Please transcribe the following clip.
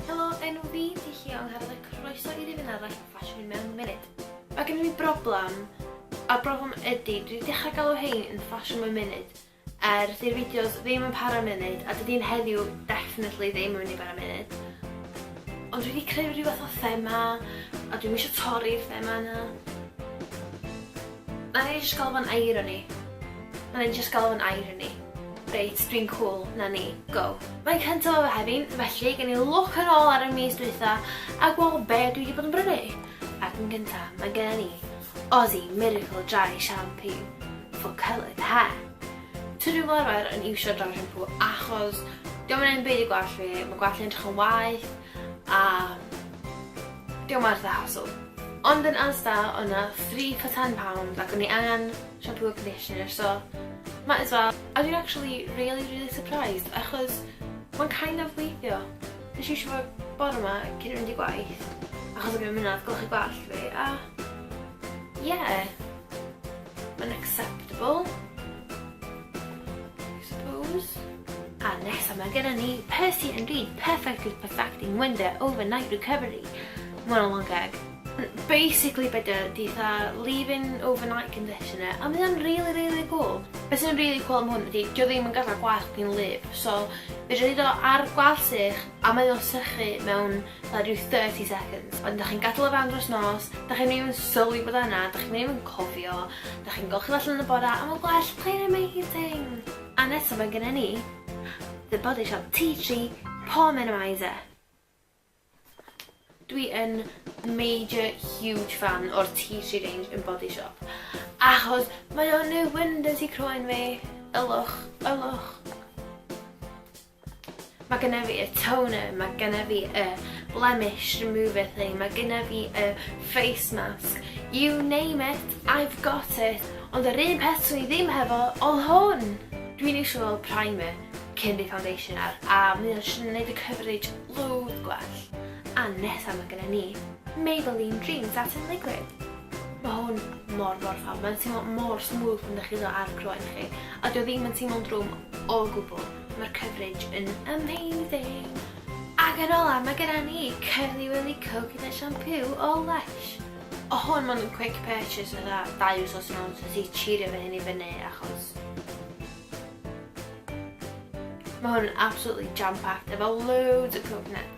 Helo, enw fi ti Llion Hardd a croeso i rifyn arall o ffasiwn mewn munud. Mae gen i fi broblem, a'r broblem ydy, dwi wedi dechrau galw hein yn ffasiwn mewn munud, er dy'r fideos ddim yn para munud, a dydy'n heddiw definitely ddim yn mynd i para munud. Ond dwi wedi creu rhywbeth o thema, a dwi'n eisiau torri'r thema yna. Na ni jyst galw fo'n irony. Na ni jyst galw fo'n irony. Reit, dwi'n cŵl, 'na ni, go. Mae'n cyntaf o Fehefin, felly gen i lwc yn ôl ar y mis dwytha a gweld be dwi 'di bod yn brynu. Ac yn gynta, mae genna ni Aussie Miracle Dry Shampoo for coloured hair. Tŷ dwi fel arfer yn iwsio dry shampoo achos 'di o'm yn neud 'm byd i gwallt fi, ma' gwallt fi'n edrych yn waeth a Dio werth y hassle. Ond yn Asda oedd 'na three for ten pound ac o'n i angen shampoo a conditioner so might as well. A dwi'n actually rili rili surprised achos ma'n kind of gweithio. Nes i iwsio fo bore 'ma cyn mynd i gwaith achos o'n i ddim yn gweld y gwallt fi a ie. Unacceptable. I suppose. A nesa mae gennym ni Percy and Reed Perfectly Perfecting Wonder Overnight Recovery. Mae'n o'n gag. Basically beth ydy dda leave-in overnight conditioner a mae o'n really really cool. Beth sy'n really cool am hwn ydy dio ddim yn gadael gwallt yn lip so fedrwch chi do ar gwallt eich a mae o'n sychu mewn Mae rhyw 30 seconds, wedyn dach chi'n gadael o fewn dros nos, dach chi'm even sylwi bod o yna, dach chi'm even cofio, dach chi'n golchi'r allan yn y bore a mae'n gwell, plain and amazing! A nesa mae genna ni The Body Shop Tea Tree Pore Minimiser. Dwi yn major huge fan o'r Tea Tree range yn Body Shop, achos mae o'n neud wonders i croen fi. Ylwch, ylwch. Mae gennyf fi y toner, mae gennyf fi y blemish remover thing, mae gennyf fi y face mask, you name it, I've got it, ond yr un peth swn i ddim hefo oedd hwn. Dwi'n eisiau fel primer cyn fi foundation ar, a mae o'n siŵr yn gwneud y coverage loads gwell. A nesaf mae gennym ni Maybelline Dream Satin Liquid. Mae hwn mor mor ffab, mae'n teimlo mor smooth pan ydych chi ddo ar croen chi, a dwi ddim yn teimlo'n drwm o gwbl. Mae'r coverage yn amazing! Ac yn ola, mae gyda ni Curly Willy Coconut Shampoo o Lush. O hwn ma'n quick purchase fatha dau wsos yn ôl, so nes i chirio fy hyn i fyny achos Mae hwn yn absolutely jam-packed efo loads o coconut.